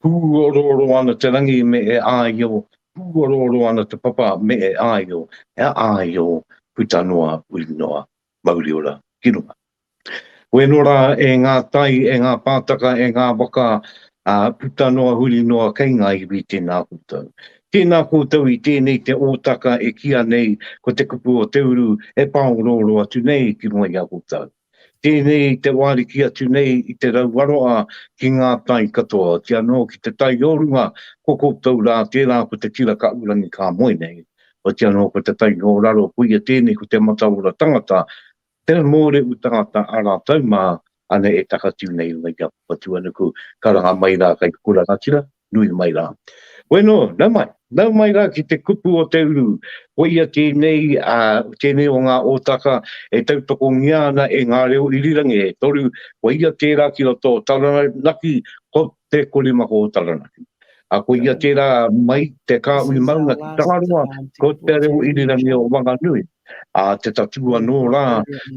Pūorooro ana te rangi me e āio, pūorooro ana te papa me e āio, e āio, puta noa, ui noa, mauri ora ki runga. Koe anō rā e ngā tai, e ngā pātaka, e ngā waka, ā, puta noa, huri noa kei ngā iwi tēnā koutou. Tēnā koutou i tēnei te ōtaka e kīa nei ko te kupu o te uru e pāorooro atu nei ki runga i a koutou. Tēnei i te wāriki atu nei i te rauaroa ki ngā tai katoa, ooti anō ki te tai o runga, ko koutou rā, tērā ko te Kira Kaʻurangi ka moe nei, ooti anō ko te tai o raro, koia tēnei ko te mataora tangata, te mōrehu tangata a rātou mā, ana e takatū nei i runga i a Papatūānuku, karanga mai rā kei te kura rangatira, nui mai rā. Koe nō, nau mai, nau mai rā ki te kupu o te uru, koia tēnei, ā, tēnei o ngā ōtaka e tautokongia ana e ngā reo irirangi e toru, koia tērā ki roto o Taranaki, ko Te Korimako o Taranaki. Ā, koia tērā mai te kāhui maunga ki Tangaroa, ko te reo irirangi o Wanganui. ā, te tatū anō rā,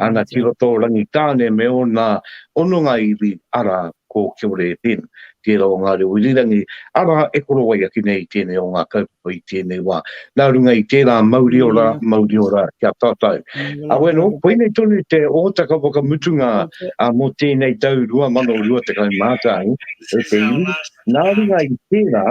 ana ki roto o Rangitāne me ōna hononga iwi, arā, ko Kiorēpin, tērā o ngā reo irirangi, arā, e korowai ake nei i tēnei o ngā kaupapa i tēnei wā. Nā runga i tērā, mauri ora, mauri ora ki a tātou. Awe anō, koinei tonu te hōtaka whakamutunga mō tēnei tau 2021 e te iwi. Nā runga i tērā,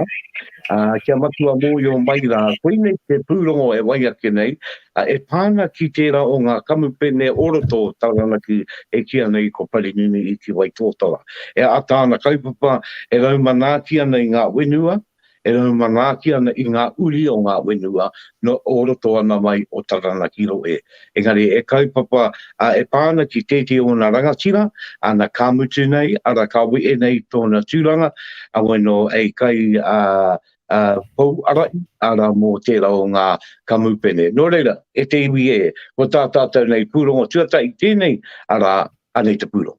Ā, kia matua mōio mai rā, koinei te pūrongo e wai ake nei, ā, e pā ana ki tērā o ngā kamupene o roto o Taranaki e kīa nei ko Parinini i Ki Waitōtara. E ata ana kaupapa e rau manaaki ana i ngā whenua, e rau manaaki ana i ngā uri o ngā whenua nō o roto ana mai o Taranaki rohe. Engari e kaupapa, ā, e pā ana ki tētehi o ōna rangatira, āna ka mutu nei, arā, ka wehe nei tōna tūranga, heoi anō, hei kai, ā, ā, pou arai, arā, mō tērā o ngā kamupene. Nō reira, e te iwi ē, ko tā tātou nei pūrongo tuatahi tēnei, arā, anei te pūrongo.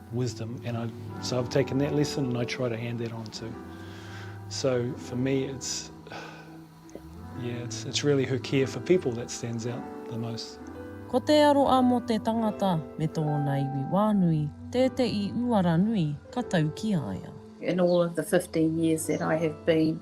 wisdom and I so I've taken that lesson and I try to hand that on too so for me it's yeah it's it's really her care for people that stands out the most Ko te aroa mo te tangata me tōna iwi wānui tēteʻi uara nui ka tau ki a ia. In all of the fifteen years that I have been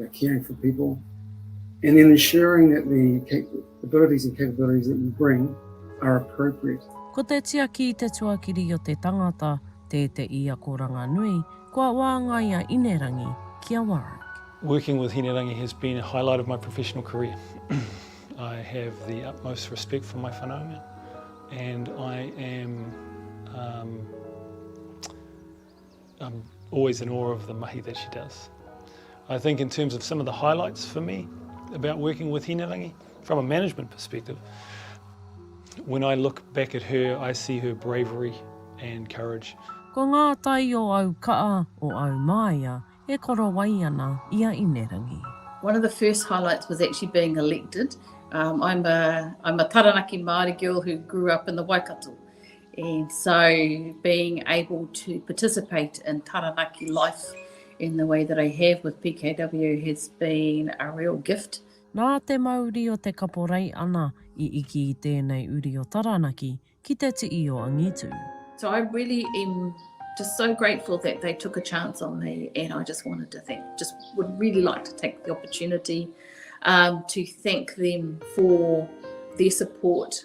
uh, caring for people, and then ensuring that the abilities and capabilities that you bring are appropriate. Ko te tiaki i te tuakiri o te tangata, tē te i akoranga nui, kua wāngai a Inerangi ki a Warwick. Working with Hinerangi has been a highlight of my professional career. I have the utmost respect for my whanaunga and I am um, I'm always in awe of the mahi that she does. I think in terms of some of the highlights for me about working with Hinerangi, from a management perspective, when I look back at her, I see her bravery and courage. Ko ngā tai o au kaa, o au māia, e korowai ana i a Inerangi. One of the first highlights was actually being elected. Um, I'm, a, I'm a Taranaki Māori girl who grew up in the Waikato. And so being able to participate in Taranaki life in the way that I have with PKW has been a real gift. Nā te mauri o te kaporei ana i iki i tēnei uri o Taranaki ki te tii o angitu. So I really am just so grateful that they took a chance on me and I just wanted to thank, just would really like to take the opportunity um, to thank them for their support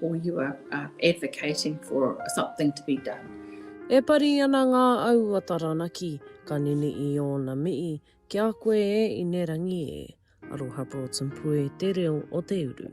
or you are uh, advocating for something to be done. E pari ana ngā au a Taranaki, ka nini i ōna mihi, ki a koe e Inerangi e. Aroha Broughton Pue, te reo o te uru.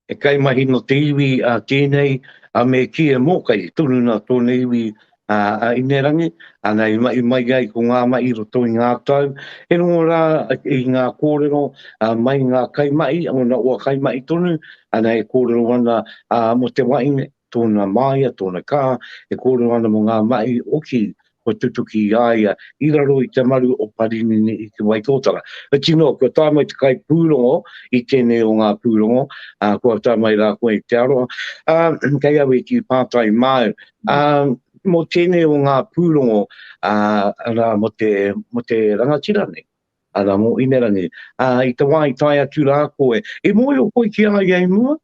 He kaimahi no te iwi a tenei a me ki e mokai tonu na tona iwi a a Inerangi, ana i mahi mai ai ko nga mahi i roto i nga tau, he rongo ra i nga korero a mai nga kaimahi, ona ua kaimahi tonu, ana e korero ana a mo te wahi nei. tōna māia, tōna kā, e kōrero ana mō ngā mahi oki kua tutuki i a ia i raro i te maru o Parinini i Te Waitōtara. Whiti noa, kua tae mai te kaipūrongo i tēnei o ngā pūrongo, ā, kua tae mai rā koe i Te Aroha, ā, kei au e kī pātai māu, ā, mō tēnei o ngā pūrongo, ā, arā, mō te, mō te rangatira nei, arā, mō Inerangi, ā, i te wā i tae atu rā koe, i mōhio koe ki a ia i mua?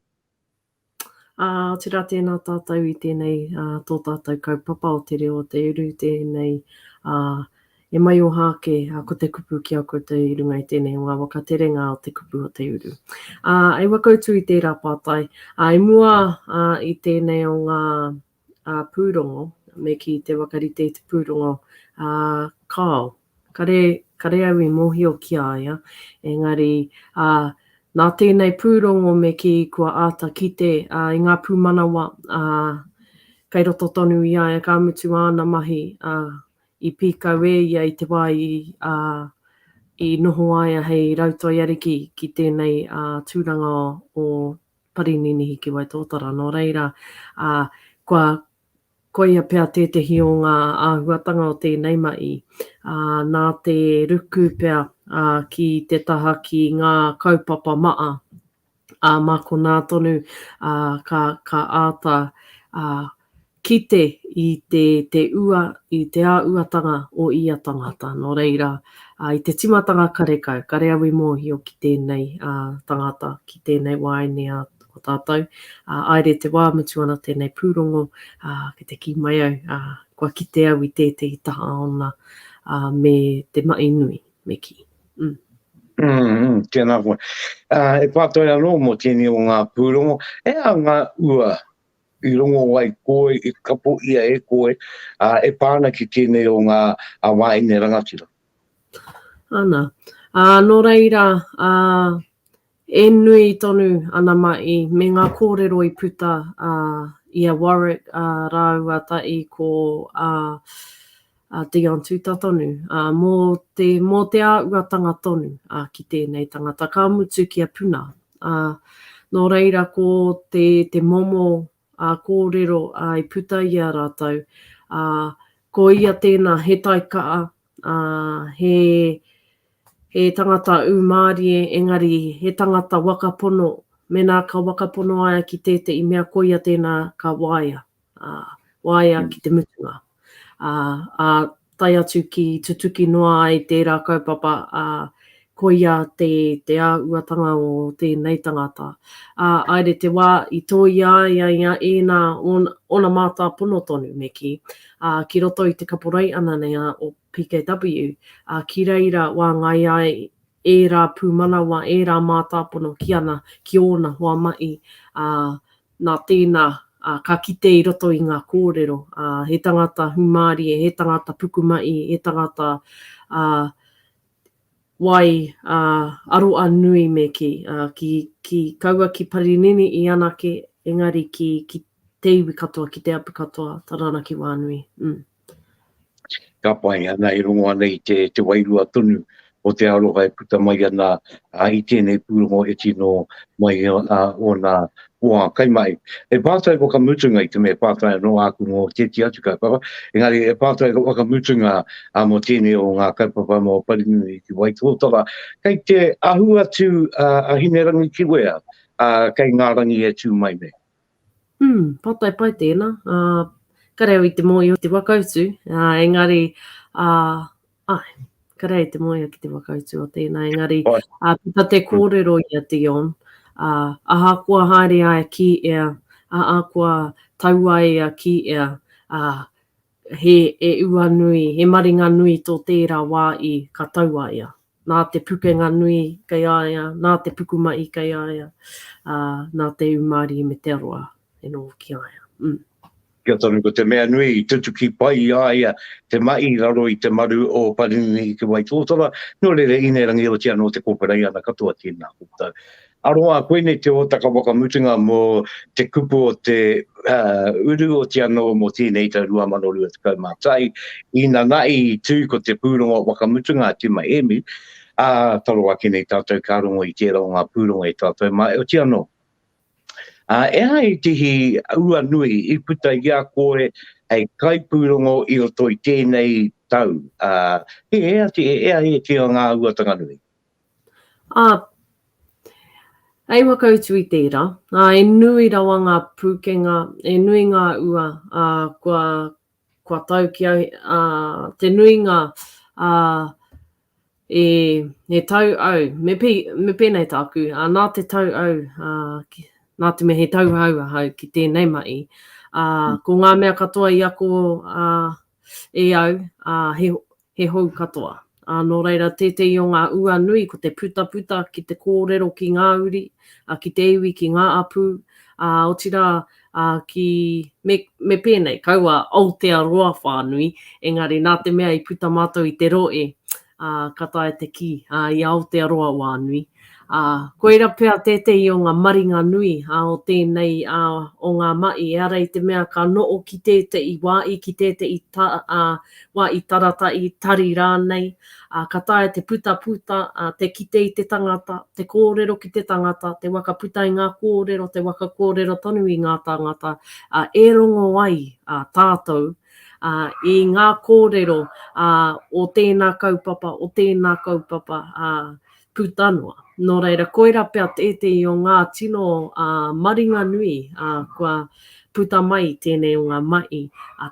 Ā, otirā tēnā tātou i tēnei, ā, tō tātou kaupapa o te reo o te uru tēnei, ā, e maioha ake, ā, ko te kupu ki a koutou i runga i tēnei o ngā waka terenga o te kupu o te uru. Ā, i wakautu i tērā pātai, ā, i mua, ā, i tēnei o ngā. pūrongo, me ki te whakarite i te pūrongo a Carl. Kare, kare au i mōhio ki a ia, engari, ā, nā tēnei pūrongo me kī kua āta kite i ngā pūmanawa kei roto tonu i a ia, ka mutu āna mahi i pīkau e ia i te wā i noho a ia hei rautoi ariki ki tēnei tūranga o Parininihi ki Waitōtara, nō reira, ā, kua, koia pea tētehi o ngā āhuatanga o tēnei mahi, ā, nā te ruku pea, ā, ki te taha ki ngā kaupapa maha, ā, mā konā tonu, ā, ka, ka āta, ā, Kite i te, te ua, i te āuatanga o ia tangata. Nō reira, ā, i te tīmatanga karekau, kare au i mōhio ki tēnei, ā, tangata, ki tēnei wāine a, a tātou, ā, āere te wā, mutu ana tēnei pūrongo, ā, ki te kī mai au, ā, kua kite au i tētehi taha ōna, ā, me te maʻi nui, me kī. Mm. Mm, tēnā koe. Ā, e pātai anō mō tēnei o ngā pūrongo, he aha ngā ua i rongo ai koe, i kapo ia e koe, ā, e pā ana ki tēnei o ngā wāhine rangatira. Ana. Ā, nō reira, ā, e nui tonu ana maʻi me ngā kōrero i puta, ā, i a Warwick, ā, rāua taʻi ko, ā, a Dion Tuta tonu, a, mo te, mo te auatanga tonu, a, ki tenei tangata, ka mutu kia puna, a, no reira ko te, te momo, a, korero, a, i puta i a ratou, a, ko ia tena he taika'a, a, he, he tangata umarie, engari he tangata waka pono, mena ka waka pono aia ki tete'i mea koia tena ka waea, ā, waea ki te mutunga, ā, ā tae atu ki tutuki noa ai tērā kaupapa, ā, koia te, te āhuatanga o tēnei tangata. Ā, aere te wā i tōia ai a ia ēnā, ōna, ōna mātāpono tonu, me kī, ā, ki roto i te kaporeī ananea o PKW, ā, ki reira wāngai ai ērā pūmanawa, ērā mātāpono ki ana, ki ōna hoa mahi, ā, Nā tēnā, ka kite i roto i ngā kōrero, he tangata hūmārie, he tangata pukumahi, he tangata wai aroa nui me kī. Ki kaua ki Parinini i anake, engari ki te iwi katoa, ki te apu katoa, taranaki wā nui. Ka pai, ana e rongo ana i te, te wairua tonu o te aroha e puta mai ana i tēnei pūrongo e tino mai i ōna hoa kaimahi. He pātai whakamutunga i te mea pātai anō āku mō tēti atu kaupapa, engari he pātai whakamutunga mō tēnei o ngā kaupapa mō Parinui ki Waitōtara. Kei te ahu atu a Hinerangi ki wea, kei ngā rangi e tū mai nei? Umm, pātai pai tēnā. Ka reo i te mōhio te whakautu, engari, ae, ka reo i te mōhio ki te whakautu o tēnā, engari, puta te kōrero i a Dion, ahakoa haere ai ki ea, ahakoa tau ai ea ki ea, he e ua nui, he maringa nui tō tērā wā i ka tau a ea. nā te pukenga nui kei a ia, nā te pukumahi kei a ia, ā, nā te ū mārie me te aroha e noho ki a ia. Umm. Kia tonu, ko te mea nui i tutuki pai i a ia te mahi i raro i te maru o Parinini i Te Waitōtara, nō reira, Inerangi Oti anō te kōwhirai ana katoa tēnā koutou. Aroha, koinei te hōtaka whakamutunga mō te kupu o te uru oti anō mō tēnei tau 2021. Inanahi i tū ko te pūrongo whakamutunga a Tima Hēmi, ā, taro ake nei tātou ka rongo i tērā o ngā pūrongo e tātou mā, heoti anō. Ehai te hī ua nui i puta i a koe hei kaipūrongo i roto i tēnei tau, he hea, he hea e te o ngā uatanga nui? Ā, hei whakautu i tērā, ā, e nui rawa ngā pūkenga, e nui ngā ua, ā, kua, kua tau ki au, ā, te nuinga, ā, e, e tau au, me, me pēnei tāku, ā, nā te tau au, ā, ki, nā te mea he tauhou ahau ki tēnei mahi, ā, ko ngā mea katoa i ako, ā, E au, ā, he, he hou katoa. Ā, nō reira, tētehi o ngā ua nui ko te putaputa ki te kōrero ki ngā uri, ā, ki te iwi, ki ngā apū, ā, otirā, ā, ki, me, me pēnei, kaua Aotearoa whānui, engari nā te mea i puta mātou i te rohe, ā, ka taea te kī, ā, i Aotearoa wā nui. Ā, koira pea tētehi o ngā maringa nui, ā, o tēnei, ā, o ngā maʻi, ehara i te mea ka noʻo ki tēteʻi wā i, ki tēteʻi ta, ā, wā i tarata, i tari rānei, ā, ka taea te puta, puta, ā, te kite i te tangata, te kōrero ki te tangata, te waka puta i ngā kōrero, te waka kōrero tonu i ngā tāngata, ā, e rongo ai, ā, tātou, i ngā kōrero o tēnā kaupapa, o tēnā kaupapa puta noa. Nō reira, koirā pea tētehi o ngā tino maringa nui kua puta mai i tēnei o ngā mahi,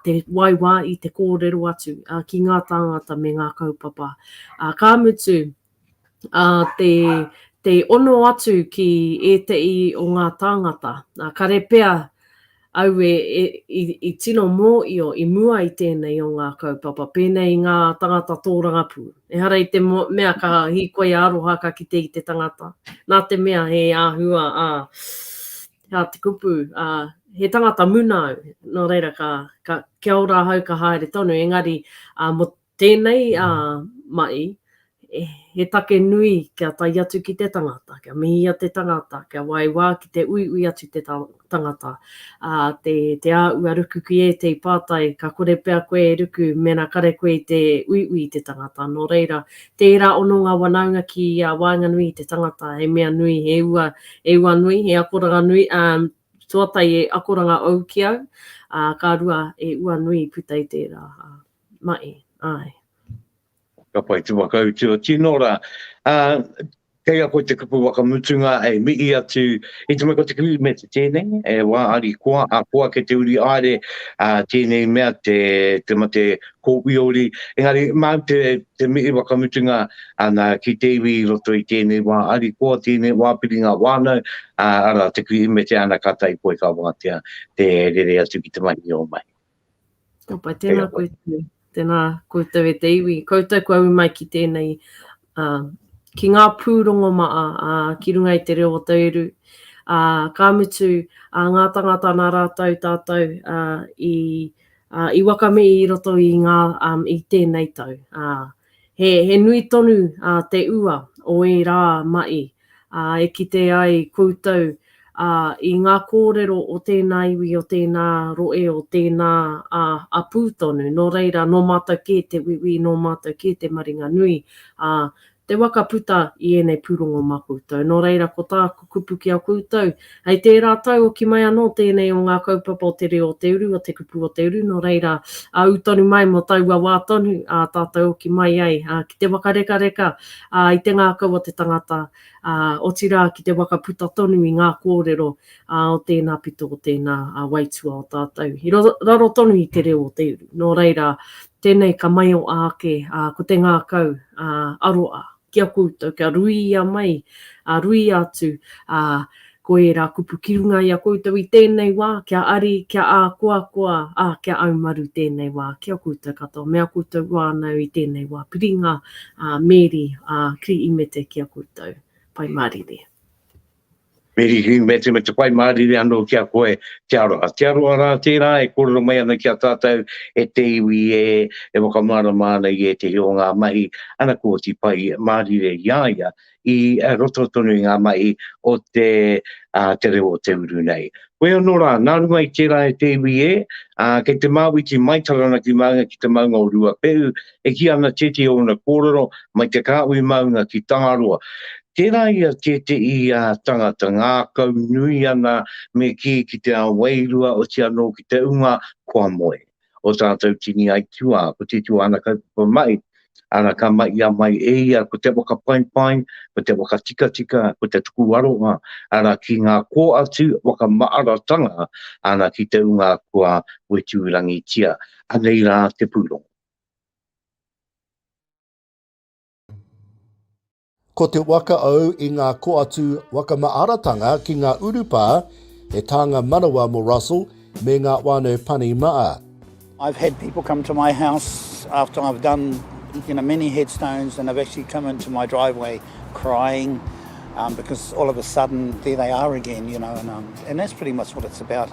te waiwā i te kōrero atu ki ngā tāngata me ngā kaupapa. Ka mutu, ā, te, te ono atu ki ēteʻi o ngā tāngata. Ā, kare pea au e, e, i, i tino mōio i mua i tēnei o ngā kaupapa, pēnei i ngā tāngata tōrangapū. Ehara i te mo, mea ka hīkoi a aroha ka kite i te tangata, nā te mea he āhua, ā, ā te kupu, ā, he tangata muna au, nō reira ka, ka, kia ora ahau ka haere tonu, engari, ā, mo, Tēnei a Ma'i, he take nui kia tae atu ki te tangata, kia mihia te tangata, kia waewa ki te uiui atu te tangata, a, te, te āua ruku ki ētei pātai, ka kore pea koe e ruku mena kare koe i te uiui i te tangata, nō reira, tērā ono ngā wanaunga ki a waenganui i te tangata, he mea nui, he ua, he ua nui, he akoranga nui, a, tuatahi he akoranga ou ki au, a, ka rua, he ua nui i puta i tērā, a. Mai, āe. Ka pai te whakautu o Tino rā. Ā, kei a koe te kupu whakamutunga hei mihi atu i te mea ko te Kirihimete tēnei, e wā harikoa, ā, ko ake te uri haere, ā, tēnei mea te, te mate kōwiori. Engari, māu te, te mihi whakamutunga ana ki te iwi i roto i tēnei wā harikoa, tēnei wā piringa whānau, ā, arā, te Kirihimete ana ka tae koe ka wātea te rere atu ki te mahi o mahi. Opa, tēnā koutou, tēnā koutou e te iwi, koutou kua ū mai ki tēnei, uh, ki ngā pūrongo maa, uh, ki runga i te reo o Tauiru, uh, ka mutu, uh, ngā tangata nā rātou tātou uh, i, uh, i wakame i roto i ngā, um, i tēnei tau. Uh, He nui tonu te ua o ērā maʻi e kite ai koutou i ngā kōrero o tēnā iwi, o tēnā rohe, o tēnā apū tonu. Nō reira, nō mātou kē te uiui, nō mātou kē te maringanui, te waka puta i ēnei pūrongo mā koutou. Nō reira, ko tāku kupu ki a koutou, Hei tērā tau hoki mai anō tēnei o ngā kaupapa o te reo o te uru, o te kupu o te uru, nō reira, ā, ū tonu mai mō taua wā tonu, ā, tātou hoki mai ai, ā, ki te wakarekareka, ā, i te ngākau o te tangata, ā, otirā ki te whakaputa tonu i ngā kōrero, ā, o tēnā pito, o tēnā, ā, waitua o tātou, i raro tonu i te reo o te uru. Nō reira, tēnei ka maioa ake, ā, ko te ngākau, ā, aroa. ki a koutou, kia ruia mai, ā, ruia atu, ā, ko ērā kupu ki runga i a koutou i tēnei wā, kia ari, kia ākoakoa, ā, kia aumaru tēnei wā ki a koutou katoa, me a koutou wānau i tēnei wā. Piringa, ā, Meri, ā, Kri Imete ki a koutou. Pai Mārire. Mirihi, me te, me te whai mārire anō ki a koe, te aroha. Te aroha rā tērā e kōrero mai ana ki a tātou e te iwi e, e whakamārama ana i ētehi o ngā mahi, ana kua oti whai mārire i a ia i roto tonu i ngā mahi o te, ā, te reo o te uru nei. Koe anō rā, nā runga i tērā e te iwi e, ā, kei te māwiti mai Taranaki Maunga ki te maunga o Ruapehu, e kī ana tētehi o ōna kōrero, mai te kāhui maunga ki Tangaroa. Tērā i a tētehi tangata ngākau nui ana me kī ki te ao wairua, oti anō ki te unga kua moe. Ō tātou tini aituā, ko tētehi o āna kaupapa mahi, ana ka mahia mai e ia ko te whakapaipai, ko te whakatikatika, ko te tuku aroha, ana ki ngā kōatu whakamaaratanga, ana ki te unga kua weturangitia. Anei rā te pūrongo. Ko te waka au i ngā koatu wakamaaratanga ki ngā urupā he tānga manawa mō Russell me ngā whānau pani maa. I've had people come to my house after I've done you know many headstones and they've actually come in to my driveway crying because all of a sudden there they are again you know and that's pretty much what it's about.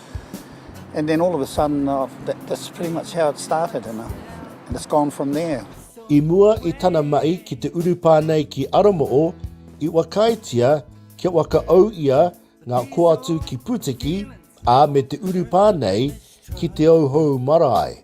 And then all of a sudden, that's pretty much how it started, and it's gone from there. I mua i tana maʻi ki te urupā nei ki Aramoo, i wakaetia kia wakaou ia ngā koatu ki Putiki, ā, me te urupā nei ki Te Ouhou Marae.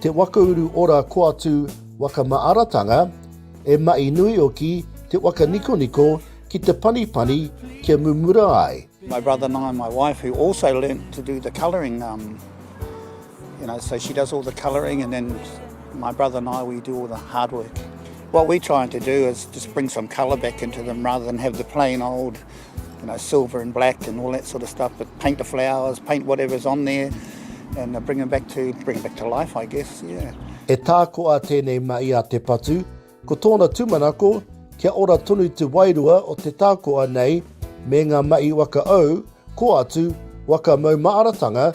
Te waka uru ora koatu waka maaratanga, e maʻi nui oki te waka nikoniko ki te panipani kia mumura ai. My brother and I, my wife, who also learnt to do the colouring, um, you know, so she does all the colouring and then my brother and I, we do all the hard work. What we're trying to do is just bring some colour back into them rather than have the plain old you know, silver and black and all that sort of stuff, but paint the flowers, paint whatever's on there, and uh, bring them back to, bring them back to life, I guess, yeah. E tākoa tēnei ma i a Te Patu, ko tōna tūmanako kia ora tonu te wairua o te tākoa nei me ngā mahi waka au, ko atu, waka mau maaratanga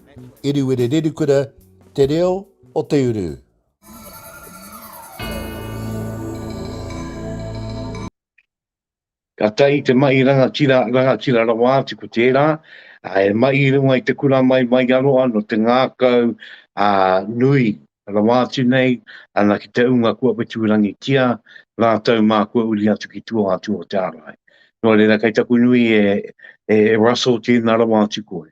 Eruere Rerukura, Te Reo o te Uru. Ka tahi te mahi rangatira, rangatira rawa atu ko tērā, he mahi i runga i te kura mai, mai i Aroha, nō te ngākau nui Rawa atu nei, ana ki te ūnga kua whetūrangitia rātou mā kua uri atu ki tua atu o te ārai. Nō reira, kei taku nui e, e Russell tēnā rawa atu koe.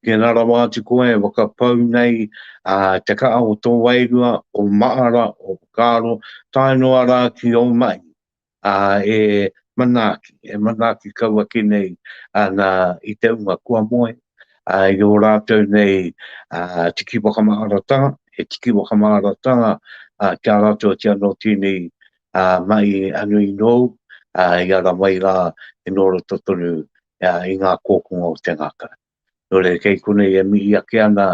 Tēnā rawa atu koe e whakapau nei a te kaha o tō wairua, o Maara, o Whakaaro, tae noa rā ki ō mahi. ā, e manaaki, e manaaki kau ake nei ana i te unga kua moe, ā, i ō rātou nei tiki whakamaharatanga, he tiki whakamaharatanga ki a rātou atu anō tēnei mahi nui nōu, ā, i ara mai rā e nō roto tonu i ngā kōkonga o te ngākau. nō reira kei konei e mihi ake ana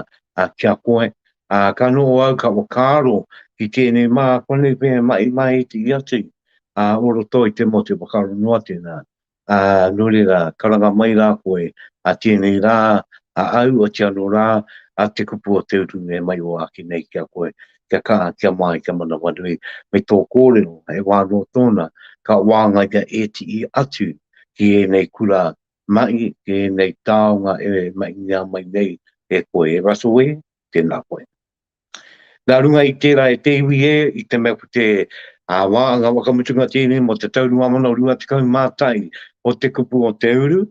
ki a koe. Ā, ka noho au ka whakaaro ki tēnei mā, konei pea e mahi mai i te hiace, ā, o roto i te motu whakaaro noa tēnā. Ā, nō reira, karanga mai rā koe, ā, tēnei rā, a au, otirā anō rā, ā, te kupu o te uru e mahi o ake nei ki a koe, kia kaha, kia māi, kia manawanui, me tō kōrero, he wā anō tōna, ka wāngaia ētii atu ki ēnei kura Mai i ēnei taonga e mahingia mai nei e koe e Russell e, tēnā koe. Nā runga i tērā e te iwi e, i te mea ko te wāhanga whakamutunga tēnei mō te tau 2021 o te kupu o te uru,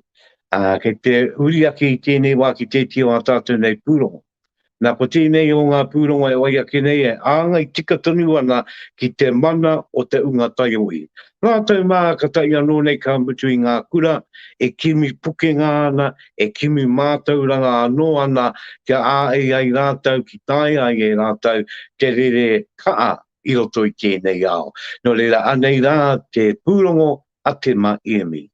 kei te uri ake i tēnei wā ki tētia o ā tātou nei pūrongo. Nā, ko tēnei o ngā pūrongo e wai ake nei e āngai tika tonu ana ki te mana o te unga taiohi. Rātou mā ka tae anō nei ka mutu i ngā kura e kimi pukenga ana, e kimi mātauranga anō ana kia āei ai rātou ki taea ai e rātou te rere kaha i roto i tēnei ao. Nō reira, anei rā te pūrongo a Tema Iemi.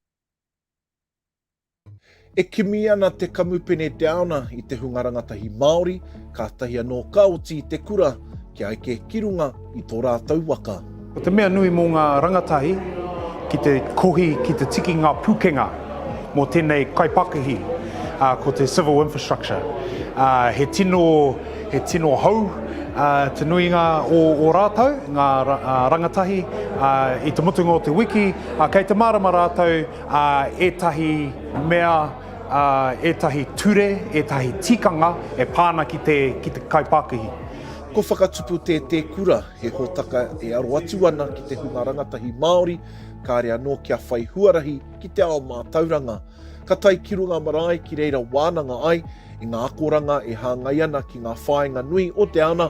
E kimi ana te Kamupene Downer i te hunga rangatahi Māori, kātahi anō ka oti i te kura kia eke ki runga i tō rātou waka. Ko te mea nui mō ngā rangatahi ki te kohi ki te tiki ngā pūkenga mō tēnei kaipakihi, ko te civil infrastructure. He tino, he tino hou te nuinga o o rātou, ngā rangatahi i te mutunga o te wiki, kei te mārama rātou, ā, ētahi mea, ā, ētahi ture, ētahi tikanga e pā ana ki te, ki te kaipākihi. Ko Whakatupu Te Te Kura he hōtaka e aro atu ana ki te hunga rangatahi Māori, kāre anō kia whai huarahi ki te ao mātauranga. Ka tae ki runga marae ki reira wānanga ai i ngā akoranga e hāngai ana ki ngā whāinga nui o te ana,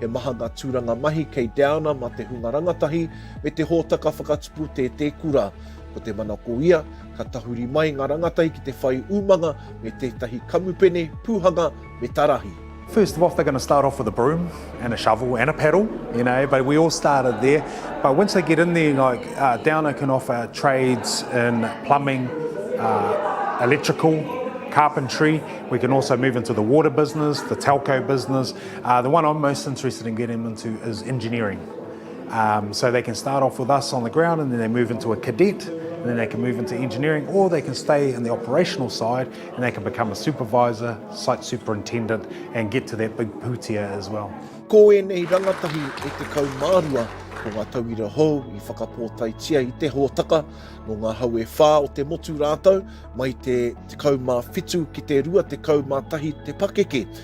He maha ngā tūranga mahi kei Downer mā te hunga rangatahi me te hōtaka whakatupu tētē kura. Ko te manako ia, ka tahuri mai ngā rangatahi ki te whai umanga me tētahi kamupene, pūhanga me ta rahi. First of all they're going to start off with a broom and a shovel and a paddle, you know, but we all started there. But once they get in there, like uh, Downer can offer trades in plumbing, uh, electrical, carpentry. We can also move into the water business, the telco business. Uh, the one I'm most interested in getting them into is engineering. Um, so they can start off with us on the ground and then they move into a cadet and then they can move into engineering or they can stay in the operational side and they can become a supervisor, site superintendent and get to that big pūtia as well. Ko ēnei rangatahi e te kaumārua ko ngā tauira hou i whakapōtaitia i te hōtaka no ngā hau e whā o te motu rātau mai te 17 ki te 21 te pakeke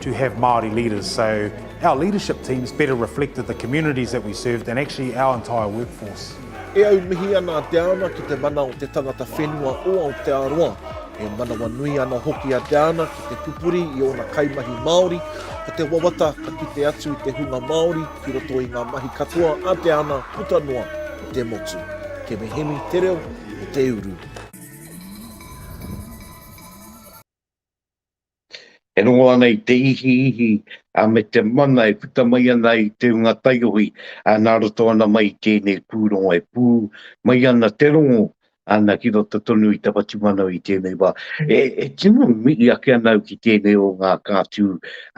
to have Māori leaders so our leadership teams better reflected the communities that we served and actually our entire workforce. E aumihi ana a Te Ana ki te mana o te tangata whenua o Aotearoa. E manawanui ana hoki a Te Ana ki te pupuri i ōna kaimahi Māori, ko te wawata ka kite atu i te hunga Māori ki roto i ngā mahi katoa a Te Ana puta noa i te motu. Kemi Hemi, Te Reo o Te Uru. e rongo ana i te ihiihi a me te mana e puta mai ana i te unga taiohi a na roto ana mai i tenei purongo e pu mai ana te rongo ana ki roto tonu i ta whatumana i tenei wa e e tino mii ake ana au ki tenei o nga katu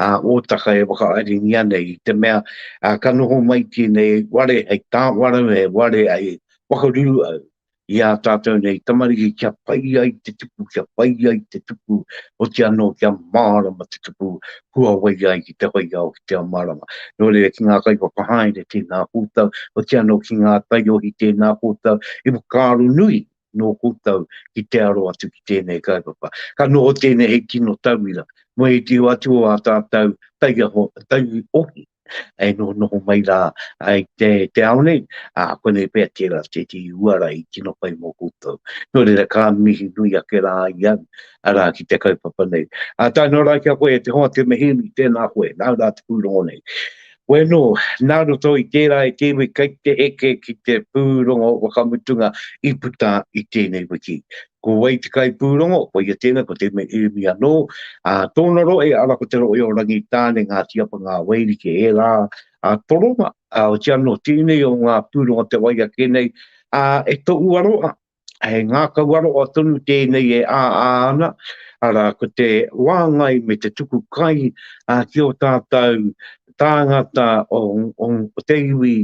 a otaka e whakaaringi ana i te mea a ka noho mai tenei ware hei tawarau he ware ai whakaruru au. i ā tātou nei tamariki kia pai ai te tupu, kia pai ai te tupu, oti anō kia mārama te tupu, huawai ai ki te hoiao, ki te ao mārama. Nō reira ki ngā kaiwhakahaere tēnā koutou, oti anō ki ngā taiohi tēnā koutou, i whakaaro nui nō koutou ki te aro atu ki tēnei kaupapa. Ka noho tēnei hei tino tauira, me te atu o ā tātou taiohi, e noho noho mai rā ai te, te ao nei, a konei pea tērā te ti uara i tino pai mō koutou. Nō reira ka mihi nui ake rā ai au, arā ki te kaupapa nei. A tae noa rā ki a koe e te hoa te mehemi, tēnā koe, nāu rā te pūrongo nei. Koe nō, nā roto i tērā e te iwi kei te eke ki te pūrongo whakamutunga i puta i tēnei wiki. Ko wai te kaipūrongo? Ko ia tēnei, ko te mea Irimi anō. Ā, tōna rohe, arā, ko te rohe o Rangitāne, Ngāti Apa, Ngā Wairuke, ērā ā, toronga, ā, otirā anō, tēnei o ngā pūrongo o te wai ake nei, ā, e tohu aroha, he ngākau aroha tonu tēnei e āā ana, arā, ko te wāngai me te tuku kai, ā, ki ō tātou tāngata o, o, o te iwi,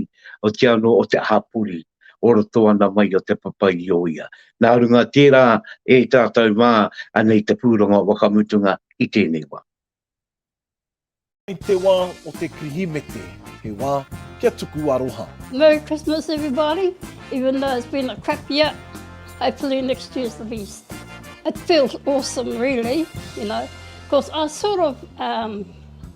otirā anō, o te hapori. o roto ana mai o te papai i o ia. Nā runga tērā e tātou mā anei te pūrongo o wakamutunga i tēnei wā. I te wā o te Kirihimete, he wā kia tuku aroha. Merry Christmas everybody, even though it's been a crap year, hopefully next year's the best. It feels awesome really, you know, because I sort of um,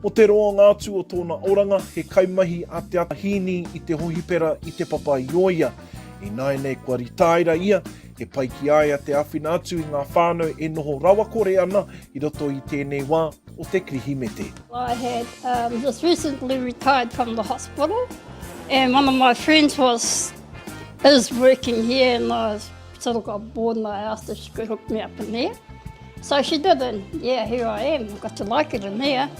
Ko te roa ngā atu o tōna oranga, he kaimahi a Te Ata Hīni i te hohipera i Te Papa-i-ōia. Ināianei kua ritaira ia, he pai ki a ia te āwhina atu i ngā whānau e noho rawakore ana i roto i tēnei wā o te Kirihimete. I had um, just recently retired from the hospital and one of my friends was is working here and I was sort of got bored in the house that she could hook me up in there. So she did, and yeah, here I am. I've got to like it in there.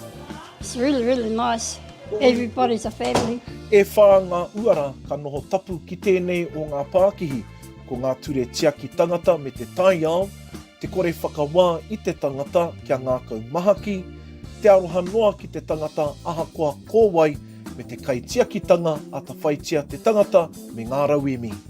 It's really, really nice. Everybody's a family. E whā ngā uara ka noho tapu ki tēnei o ngā pākihi, ko ngā ture tiaki tangata me te taiao, te kore whakawā i te tangata kia ngākau mahaki, te aroha noa ki te tangata ahakoa ko wai, me te kaitiakitanga atawhaitia te tangata me ngā rauemi.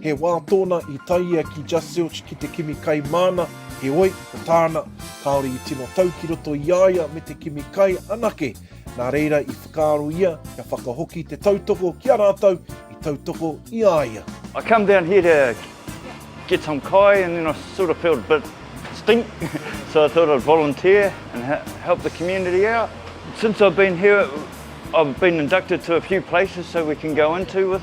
He wā tōna i tae ia ki Just Zilch ki te kimi kai māna, heoi, ko tāna, kāore i tino tau ki roto i a ia me te kimi kai anake, nā reira i whakaaro ia kia whakahoki te tautoko ki a rātou i tautoko i a ia. I come down here to get some kai and then I sort of felt a bit stink so I thought I'd volunteer and help the community out. Since I've been here I've been inducted to a few places so we can go into with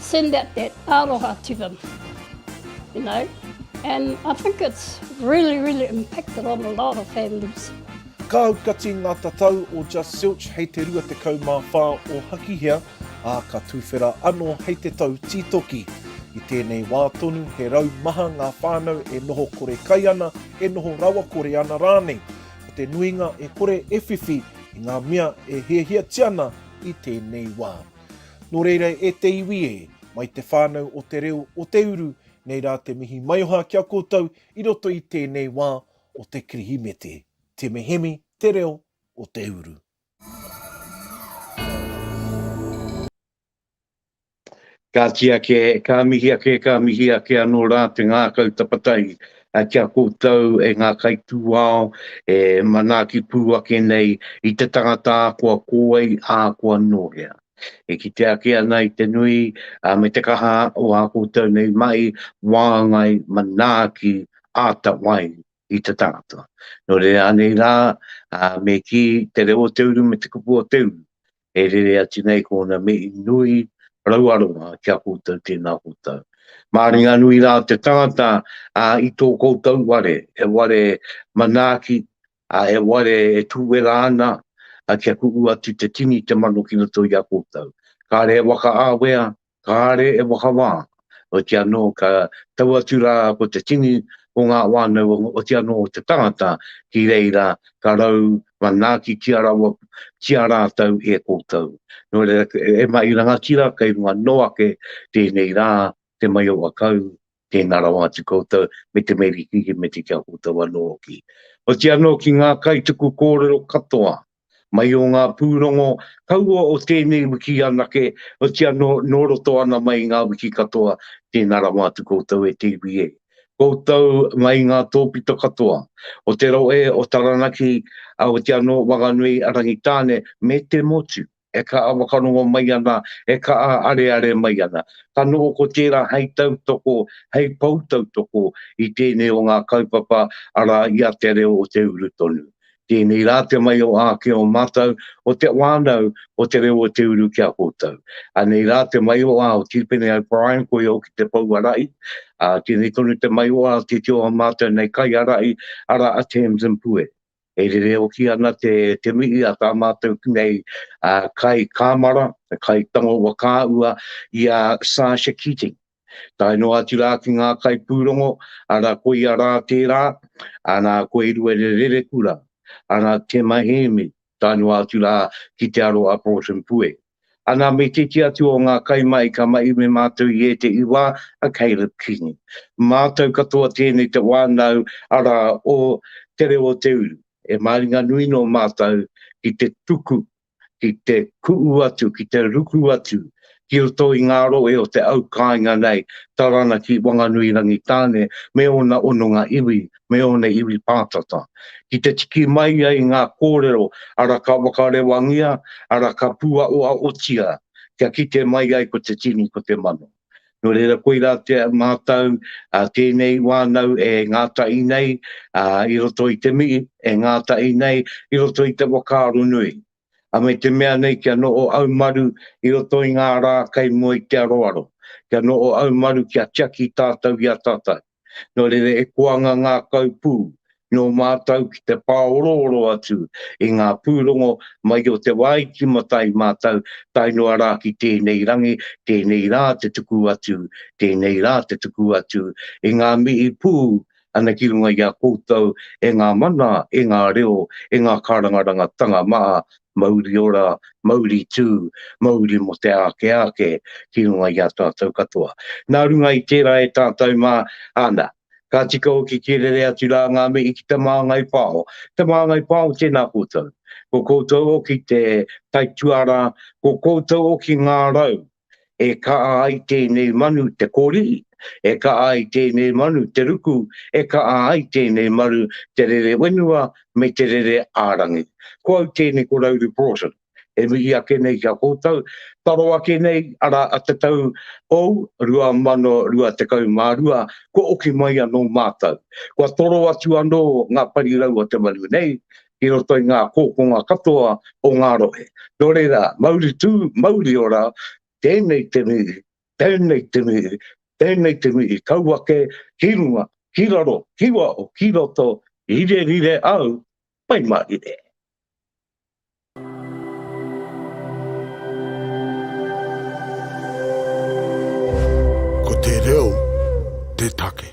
Send out that aroha to them, you know, and I think it's really, really impacted on a lot of families. Ka aukati ngā tatau o Just Zilch hei te 24 o Hakihea, ā, ka tūwhera anō hei te tau tītoki. I tēnei wā tonu, he rau maha ngā whānau e noho kore kai ana, e noho rawakore ana rānei. Ko te nuinga e kore e whiwhi i ngā mea e hiahiatia ana i tēnei wā. Nō reira e te iwi e, mai te whānau o te reo o te uru, nei rā te mihi maioha ki a koutou i roto i tēnei wā o te Kirihimete. Te Mehemi te reo o te uru. Ka tiaki e, ka mihi ake, ka mihi ake anō rā te ngākau tapatahi a kia koutou e ngā kaitūao e manaaki pū ake nei i te tangata kua kō ai ā kua nōhea. E kite ake ana i te nui a me te kaha o ā koutou nei mahi wāngai manaaki āta wai i te tangata. Nō reira anei rā, me kī te reo o te uru me te kupu o te uru, E rere atu nei ko ona mihi nui rau aronga ki a koutou tena koutou. Maringanui ra te tangata a i to koutou ware, he ware manaaki, a he ware e tuwera ana a kia ku'u atu te tini te mano ki roto i a koutou. Kare he waka awea, kāre e whakawā, oti anō ka tau atu rā ko te tini o ngā whānau oti anō o te tangata ki reira ka rau manaaki ki a rawa ki a rātou e koutou. Nō reira e mahi rangatira kei runga noa ake tēnei rā te maioa kau Tēnā rawa atu koutou, me te meri hihimeti ki a koutou anō hoki. Oti anō ki ngā kaituku kōrero katoa, mai o ngā pūrongo kaua o tēnei wiki anake, oti anō nō roto ana mai i ngā wiki katoa, tēnā rawa atu koutou e te iwi e. Koutou ngā i ngā tōpito katoa, o te rohe o Taranaki, oti anō Wanganui, Rangitāne, me te motu. e kaha whakarongo mai ana, e kaha areare mai ana. Ka noho ko tērā hei tautoko, hei pou tautoko i tēnei o ngā kaupapa, arā, i a Te Reo o Te Uru Tonu. Tēnei rā te mahi o āke o mātou, o te whānau, o Te Reo o Te Uru ki a koutou. Anei rā te mahi o au, Tīpene O'Brien, koia hoki te pou arahi. Tēnei tonu te mahi o au, tētehi o ā mātou nei kaiarahi, arā, a Tamsin Pue. E rere hoki ana te te mihi a tā mātou nei a kai kāmara, kai tango wa kāua i a Sasha Keating. Tae noa atu rā ki ngā kai pūrongo, ara koia rā tērā, ana ko Eruere Rerekura, ana Tema Heemi, tae noa atu rā ki te aro a Broughton Pueri. A nā me titi atu o ngā kaimahi ka mahi me mātou i ētehi wā, a Caleb Kingi. Mātou katoa tēnei te wānau, arā, o Te Reo o Te Uru. E māringa nui nō mātou ki te tuku, ki te kuʻu atu, ki te ruku atu ki roto i ngā rohe o te au kāinga nei, Taranaki, Wanganui, Rangitāne, me ōna hononga iwi me ōna iwi pātata, ki te tiki mai ai ngā kōrero ara ka whakarewangia, ara ka pūaoaotia kia kite mai ai ko te tini, ko te mano. Nō reira koirā te mātau tēnei wānau e ngātahi nei i roto i te mihi, e ngātahi nei i roto i te whakaaro nui, a me te mea nei kia noho haumaru i roto i ngā rā kei mua i te aroaro, kia noho haumaru kia tiaki tātau i a tātau. Nō reira e koanga ngākau pū nō mātou ki te pāorooro atu i ngā pūrongo mai o te wā i timatai mātou tae noa rā ki tēnei rangi, tēnei rā te tuku atu, tēnei rā te tuku atu i ngā mihi pū ana ki runga i a koutou e ngā mana, e ngā reo, e ngā kārangarangatanga maha Mauri ora, mauri tū, mauri mō te āke āke ki runga i a tātou katoa. Nā runga i tērā e tātou mā, ana, ka tika hoki ki rere atu rā ngā mihi ki Te Māngai Pāho. Te Māngai Pāho tēnā koutou. Ko koutou hoki te taituarā, ko koutou hoki ngā rau e kaa ai tēnei manu te korihi, e kaa ai tēnei manu te ruku, e kaa ai tēnei maru te rere wenua me te rere ārangi. Ko au tēnei ko Rauru Broughton, e mihi ake nei ki a koutou, taro ake nei, ara a te tau ou 2022, kua oki mai anō mātou, kua toro atu anō ngā parirau o te manu nei, ki roto i ngā kōkonga katoa o ngā rohe. Nō reira, mauri tū, mauri ora, tēnei te mihi, tēnei te mihi, tēnei te mihi, kau ake, ki runga, ki raro, ki waho, ki roto, rire rire au, pai mā rire. Ko te reo te take.